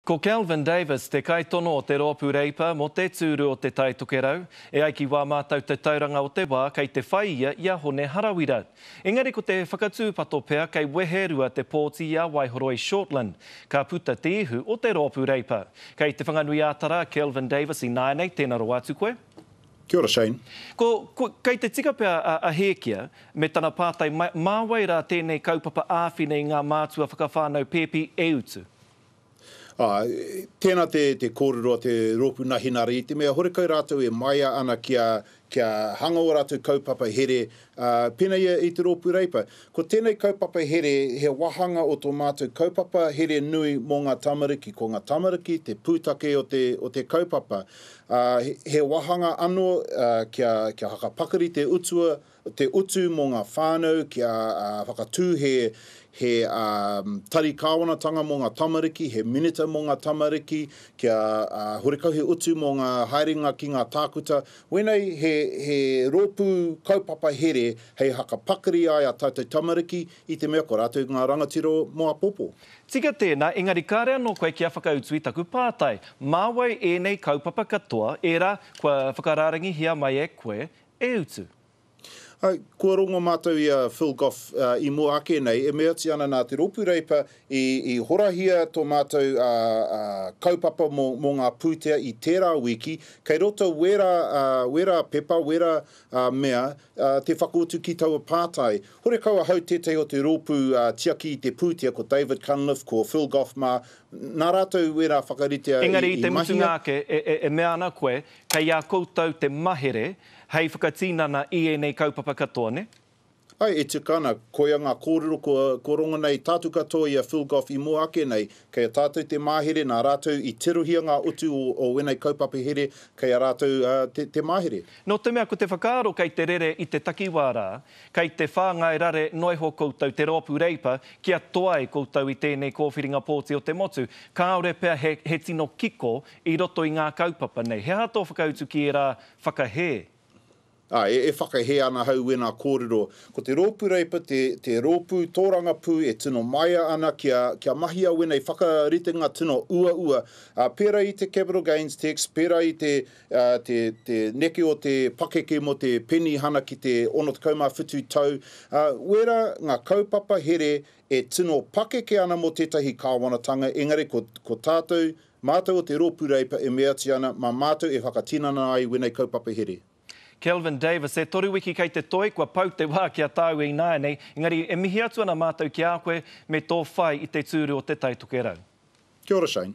Ko Kelvin Davis te kaitono o te Roopu Reipa mō te tūru o Te Tai Tokerau, e ai ki wā mātau tatauranga o te wā kei te whai ia i a Hone Harawira. Engari ko te whakatūpato pea kei Weherua te pōti i a Waihoroi Shortland, ka puta te ihu o te Roopu Reipa. Kei Te Whanganui-ā-Tara a Kelvin Davis ināianei, tēna rawa atu koe. Kia ora Shane. Ko, ko, kei te tika pea a, a Hēkia me tana pātai, mai, mā wai rā tēnei kaupapa āwhina i ngā mātua whakawhānau pēpi e utu? Tēnā te kōrero a te rōpū nā Hinari, i te mea horekau rātou e maea ana kia hanga ō rātou kaupapa here, pēnā ia i te Rōpū Reipa. Ko tēnei kaupapa here, he wāhanga o tō mātou kaupapa here nui mō ngā tamariki. Ko ngā tamariki te pūtake o te kaupapa. He wāhanga anō kia whakapakari te utua te utu mō ngā whānau kia whakatū he he tari kāwanatanga mō ngā tamariki, he minita mō ngā tamariki, kia horekau he utu mō ngā haerenga ki ngā tākuta. Wēnei he he rōpū kaupapa here hei hakapakari ai a tātou tamariki i te mea ko rātou ngā rangatira mō apopo. Tika tēnā, engari kāre anō koe kia whakautu i taku pātai. Mā wai ēnei kaupapa katoa, ērā kua whakarārangihia mai e koe, E utu! Hai, kua rongo mātou i a Phil Goff i mua ake nei, e meati ana nā te Rōpū Reipa i horahia tō mātou kaupapa mō ngā pūtea i tērā wiki, kei roto wērā, wērā pepa, wērā mea te whakautu ki taua pātai. Horekau ahau tētahi o te rōpū tiaki i te pūtea, ko David Cunliffe, ko Phil Goff mā, nā rātou wērā whakaritea i mahia. Engari i te mutunga ake, e mea ana koe, Kei a koutou te mahere hei whakatinana i ēnei kaupapa katoa, nē? Ae, e tika ana, koia ngā kōrero kua rongona e tātou katoa i a Phil Goff i mua ake nei, kei a tātou te mahere nā rātou i tirohia ngā utu o wēnei kaupapa here, kei a rātou te mahere. Nō te mea ko te whakaaro kei te rere i te takiwā rā, kei te whāngai rare noa iho koutou te rōpū Reipa kia toai koutou i tēnei kōwhiringa pōti o te motu, kāore pea he tino kiko I roto i ngā kaupapa nei, he aha tō whakautu ki ērā whakahē? Ā, e whakahē ana ahau i wēnā kōrero. Ko te rōpū Reipa te rōpū tōrangapū e tino māia ana kia mahia wēnei whakaritenga tino uaua, pērā i te Capital Gains Tax, pērā i te neke o te pakeke mō te penihana ki te 67 tau, ā, wērā ngā kaupapa here e tino pakeke ana mō tētahi kāwanatanga, engari ko tātou Mātou o te Rōpū Reipa e meatia ana mā mātou e whakatinana ai wēnei kaupapa here. Kelvin Davis, E toru wiki kei te toi, kua pau te wā ki a tāu e ināianei, engari e mihi atu ana mātou ki a koe me tō whai i te tūru o Te Tai Tokerau. Kia ora Shane.